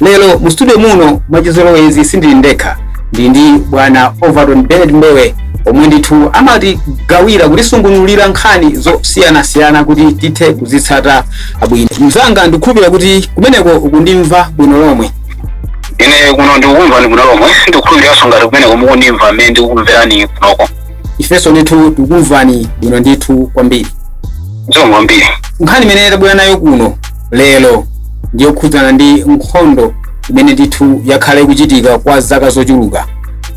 lero mu studio muno mwachizolowezi sindili ndekha ndi ndi bwana overton benard mbewe omwe ndithu amatigawira kutisungunulira nkhani zosiyanasiyana kuti tithe kuzitsata bwino mzanga ndikukhulupirira kuti kumeneko ukundimva bwino lomwe ine kuno ndikukumva ni bwino lomwe ndikukhulupiriranso ngati kumeneko mukundimva mmene ndikukumverani kunoko ifenso ndithu tikukumvani bwino ndithu kwambiri zomwe kwambiri nkhani imene tabwera nayo kuno lero ndi yokhudzana ndi nkhondo imene ndithu yakhala ikuchitika kwa zaka zochuluka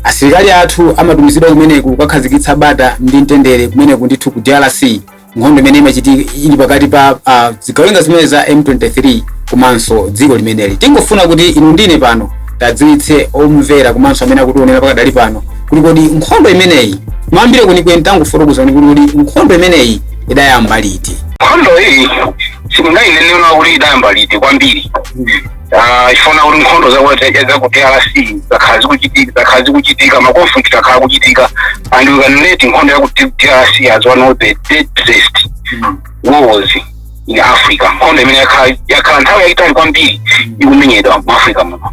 asilikali athu amatumizidwa kumeneko kukakhazikitsa bata ndi mtendere kumeneko ndithu ku drc nkhondo imene imachitika ili pakati pa uh, zigawenga zimene za m23 komanso dziko limeneli tingofuna kuti inu ndine pano tiwadziwitse omvera komanso amene akutionera pakadali pano kuti kodi nkhondo imeneyi mayambire kwenikweni tangofotokozani kuti kodi nkhondo imeneyi idayamba liti nkhondo iyi sindingainenera kuti idayamba liti kwambiri Ah, chifukwa kuti nkhondo zakuti za ku drc zakhala zikuchitika zakhala zikuchitika makonflikt akhala akuchitika and we can rate nkhondo ya ku drc as one of the deadliest wars in africa nkhondo imene yakhala yakhala nthawi yayitali kwambiri ikumenyedwa mu africa muno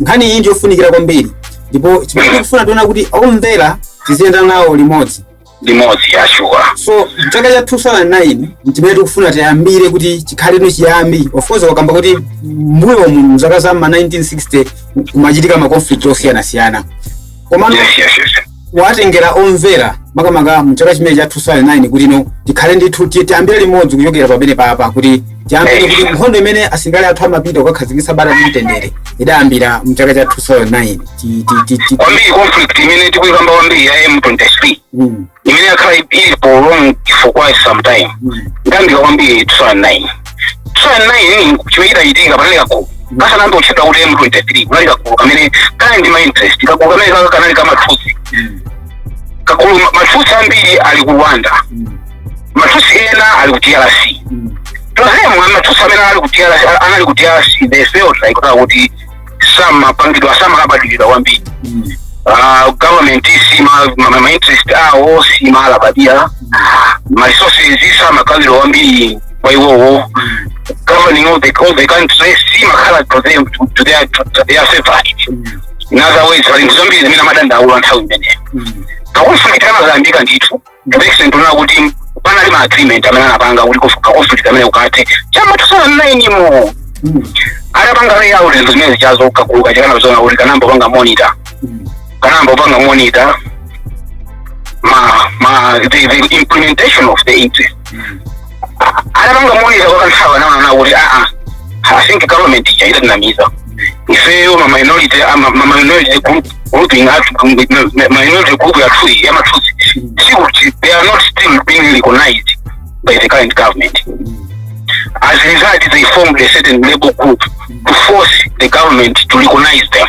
nkhani iyi ndiyofunikira kwambiri ndipo chimene tikufuna tione kuti omvera tiziyenda nawo limodzi limodzi ya shuwa so chaka cha 2009 nchimene tikufuna tiyambire kuti chikhale no chiyambi of course wakamba kuti mbuyo mu mzaka za ma 1960 kumachitika ma conflict osiyanasiyana komano yes yes yes kuwatengera omvera makamaka mu chaka chimene cha 2009 kuti no tikhale ndithu ti- tiyambire limodzi kuchokera pamene papa kuti tiyambire kuti nkhondo imene asilikali athu amapita kukakhazikitsa bata ndi mtendere idayambira mu chaka cha 2009 Ti- ti- ti- ti- kwambiri conflict imene tikuyikamba kwambiri ya m23 Mm, imene yakhala ili for long for quite some time mm. idayambira kwambiri 2009 chani nayi chimachitachitika panali kagulu kasanayambe kutchedwa kuti m23 kunali kagulu kamene kanali ndi mainterest kagulu kamene kaka kanali ka matutsi kagulu ma- matutsi ambiri ali ku rwanda matutsi ena ali ku drc tozemu amatutsi amene anali ku drc anali ku drc they felt like kuti samapangidwa samalabadilidwa kwambiri Ah, government sima ma- ma- ma interest awo simalabadira ma resources samagawidwa kwambiri kwa iwowo governing of the, of the country simakhala to them to, to their, to, to their favorite in other words pali zinthu zambiri zimene amadandaula nthawi imeneyo makonflikt anayambika ndithu direction tunaona kuti panali ma agreement amene anapanga kuti kufuka conflict imene ikathe cha m'ma 2009 mu atapanga lay out zinthu zimene zichazo kagulu kachikana kuzona kuti kanayamba kupanga monitor kanayamba kupanga monitor ma ma the, the implementation of the interest anapanga moyera kwa kanthawi anaona kuti aa i think government ija idatinamiza ifeyo ma minority ama- ma minority group grouping athu ma- ma- minority group yathu iyi yamathusi sikuti they are not still being recognized by the current government as a result they formed a certain labor group to force the government to recognize them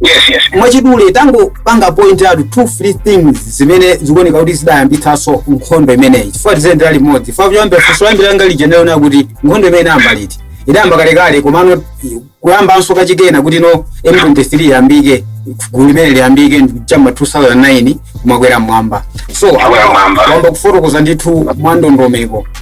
yes yes yes mwachidule tangopanga point out two three things zimene zikuoneka kuti zidayambitsanso nkhondo imeneyi chifukwa tiziyendera limodzi kuyambira funso loyambirira langa lija ndinaona kuti nkhondo imeneyi idayamba liti idayamba kalekale komano kuyambanso kachikenanso kuti no m23 iyambike gulu limene liyambike chama 2009 kumakwera mmwamba so wayamba kufotokoza ndithu mwandondomeko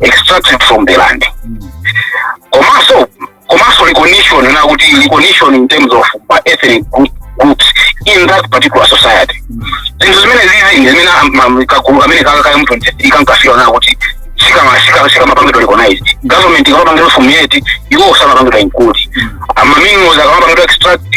extracted from the land komanso komanso recognition nakuti recognition in terms of ma ethnic groups in that particular society zinthu zimenezizi ndi zimene am- am- kagulu kamene kaka kankafuna nakuti sikama sikama sikama pangidwa recognized government ikamapangidwa formulate iwo osamapangidwa include ma minerals akamapangidwa extract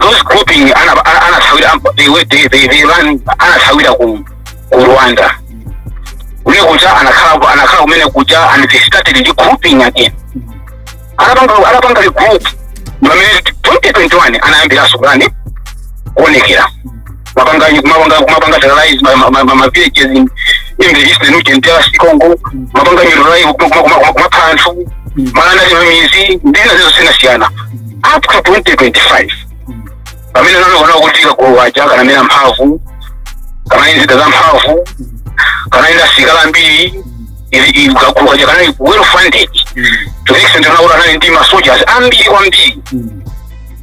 those grouping ana- ana- anasawira amp- they were- they- they- they ran- anasawira ku ku rwanda uko kuja anakhala anakhala kumene kuja and they started regrouping again anapanga anapanga regroup pamene 2021 anayambiranso kani kuonekera mapanga mapanga mapanga terrorize ma ma ma ma- ma villages in in the eastern region DRC Congo mapanga neutralize kumapha anthu kumalanda chimamizi ndi zina zosiyanasiyana up to 2025 pamene anaona kuti kagulu kaja kanamera mphamvu kanali ndi zida za mphamvu kanali ndi asilikali ambiri kagulu kaja kanali well funded to the extent nakuti anali ndi ma soldiers ambiri kwambiri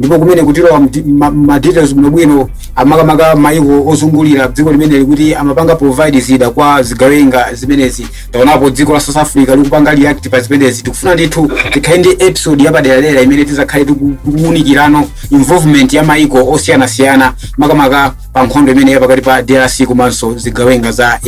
ndipo kumeneku tilowa ma details bwinobwino ah makamaka maiko ozungulira dziko limeneli kuti amapanga provide zida kwa zigawenga zimenezi taonapo dziko la south africa likupanga react pa zimenezi tikufuna ndithu tikhale ndi episode yapaderadera imene tizakhale tikuwunikirano involvement ya maiko osiyanasiyana makamaka pa nkhondo imeneyi ya pakati pa drc komanso zigawenga za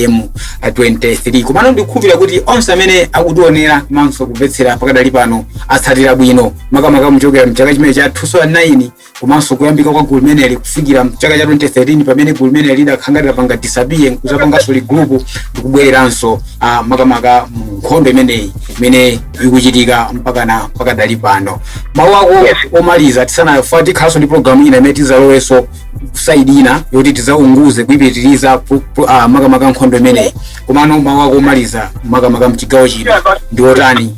m23 komano ndikukhulupirira kuti onse amene akutionera komanso kumvetsera pakadali pano atsatira bwino makamaka kuchokera mchaka chimene cha 2009 komanso kuyambika kwa gulu limeneli kufikira mchaka cha 2013 pamene gulu limeneli lidakhala litapanga disappear nkuzapanganso regroup ndikubwereranso uh, makamaka mu nkhondo imeneyi imene ikuchitika mpakana pakadali pano mawu ako omaliza tisana- tikhalanso ndi programu ina imene tizalowenso side ina yoti tizaunguze kuipitiriza pu- pu- ah, makamaka nkhondo imeneyi komano mawu ako omaliza makamaka mchigawo chino ndi otani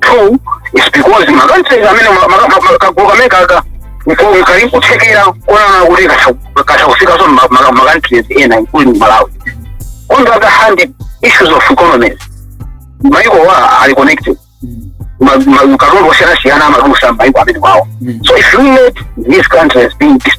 two is because ma countries amene ma- ma- ma- ma- kagulu kameneka ka mko- kali nkuthekera kuona kuti kasa- kasakufikanso ma- ma- ma countries ena including malawi on the other hand issues of economies maikowa ali connected Ma- ma- katundu osiyanasiyana amadusa mmaiko amenewawo so if you let these countries being dis-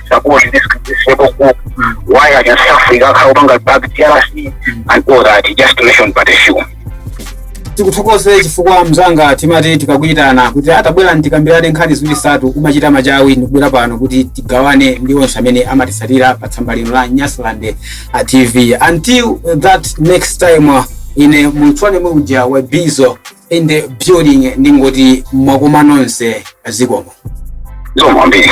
support this, this rebel group, why are you suffering? How long are back DRC and all that? Just to mention but a few. tikuthokoze chifukwa mzanga timati tikakuyitana kuti tabwera tikambirane nkhani ziwiri zitatu umachita machawi ndikubwera pano kuti tigawane ndi onse amene amatitsatira pa tsamba lino la nyasaland uh, tv until that next time uh, ine munthu wanu uja wa bizo in the building ndingoti mwakoma nonse zikomo kwambiri